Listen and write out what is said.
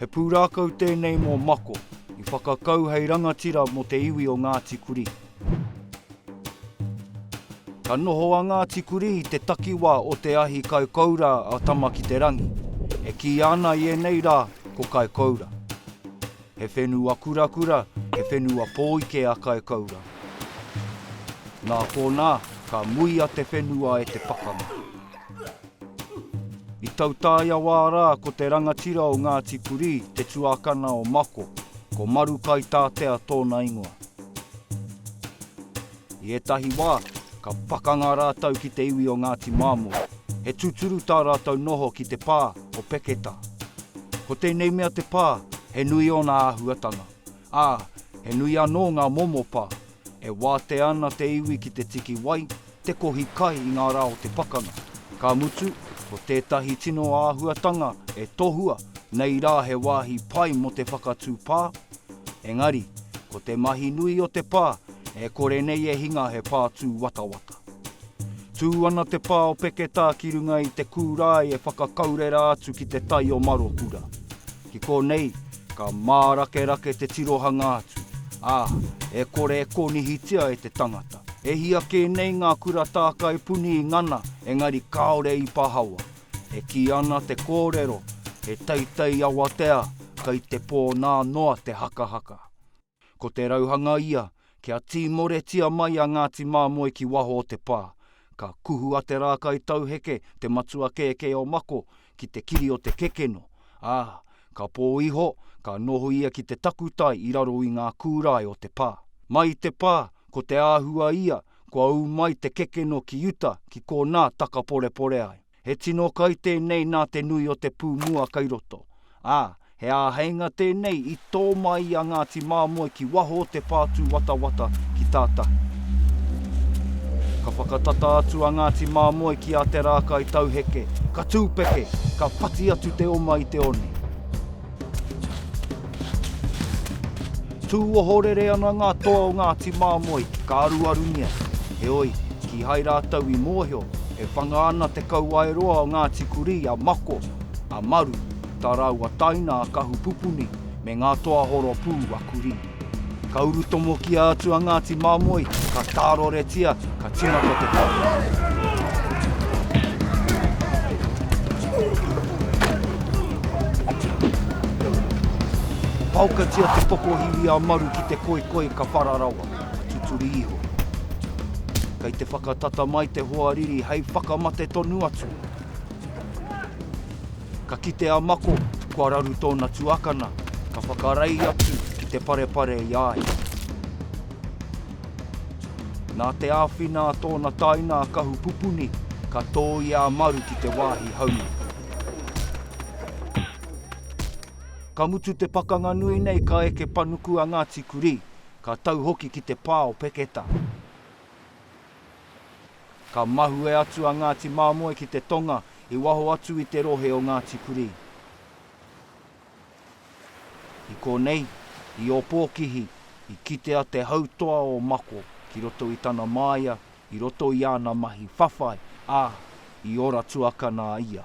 He pūrākau tēnei mō Mako, i whakakau hei rangatira mō te iwi o Ngāti Kurī. Ka noho a Ngāti Kurī i te takiwā o te ahi Kaikoura a Tama-ki-te-rangi, e kīia ana i ēnei rā ko Kaikoura. He whenua kurakura, he whenua pōike a Kaikoura. Nā konā, ka muia te whenua e te pakanga. I tautaia wā rā ko te rangatira o Ngāti Kurī te tuakana o Mako, ko Maru Kaitātea tōna ingoa. I ētahi wā, ka pakanga rātou ki te iwi o Ngāti Māmo, he tūturu tā rātou noho ki te pā o Peketa. Ko tēnei mea te pā, he nui ōna āhuatanga, ā, he nui anō ngā momo pā, E wātea ana te iwi ki te tiki wai, te kohi kai i ngā rā o te pakanga. Ka mutu, ko tētahi tino āhuatanga e tohua nei rā he wāhi pai mō te whakatū pā. Engari, ko te mahi nui o te pā, e kore nei e hinga he pā tūwatawata. Tū ana te pā o Peketā ki runga i te kūrae e whakakaurera atu ki te tai o Marokura. Ki konei, ka mārakerake te tirohanga atu, ā, e kore e konihitia e te tangata. E hia kē nei ngā kura tākai puni i ngana, engari kāore i pahawa. E kī ana te kōrero, he teitei awatea kei te pō nā noa te hakahaka. Ko te rauhanga ia, kia tīmoretia mai a Ngāti Māmoe ki waho o te pā. Ka kuhu a Te Rākaitauheke, te matua kēkē o Mako, ki te kiri o te kekeno, ā, ka pō iho, ka noho ia ki te takutai i raro i ngā kūrae o te pā. Mai i te pā, ko te āhua ia, kua ū mai te kekeno ki uta ki kōnā takaporepore ai. He tino kai tēnei nā te nui o te pū mua kai roto, ā, he āheinga tēnei i tō mai i a Ngāti Māmoe ki waho o te pātūwatawata ki tātahi. Ka whakatata atu a Ngāti Māmoe ki a Te Rākai Tauheke, ka tūpeke, ka whati atu te oma i te one. Tū ohorere ana ngā toa o Ngāti Māmoe ki Kāruarungia, heoi, kīhai rātou i mōhio e whanga ana te kauae roa o Ngāti Kurī a Mako, a Maru, tā rāua taina a Kahupupuni me ngā toa horopū a Kurī. Ka urutomo ki a atu a Ngāti Māmoe, ka tāroretia, ka tīmata te Ka paokatia te pokohiwi a Maru ki te koikoi ka para rawa, ka tuturi iho. Kei te whakatata mai te hoariri hei whakamate tonu atu. Ka kite a Mako kua raru tōna tuakana, ka whakarei atu ki te parepare i a ia. Nā te āwhina a tōna taina a Kahupupuni, ka tōia a Maru ki te wāhi haumi. Ka mutu te pakanga nui nei ka eke panuku a Ngāti Kurī, ka tau hoki ki te pā o Peketa. Ka mahue atu a Ngāti Māmoe ki te tonga i waho atu i te rohe o Ngāti Kurī. I konei, i Ōpōkihi, i kitea te hautoa o Mako ki roto i tana māia, i roto i ana mahi whawhai, ā, i ora tuakana a ia.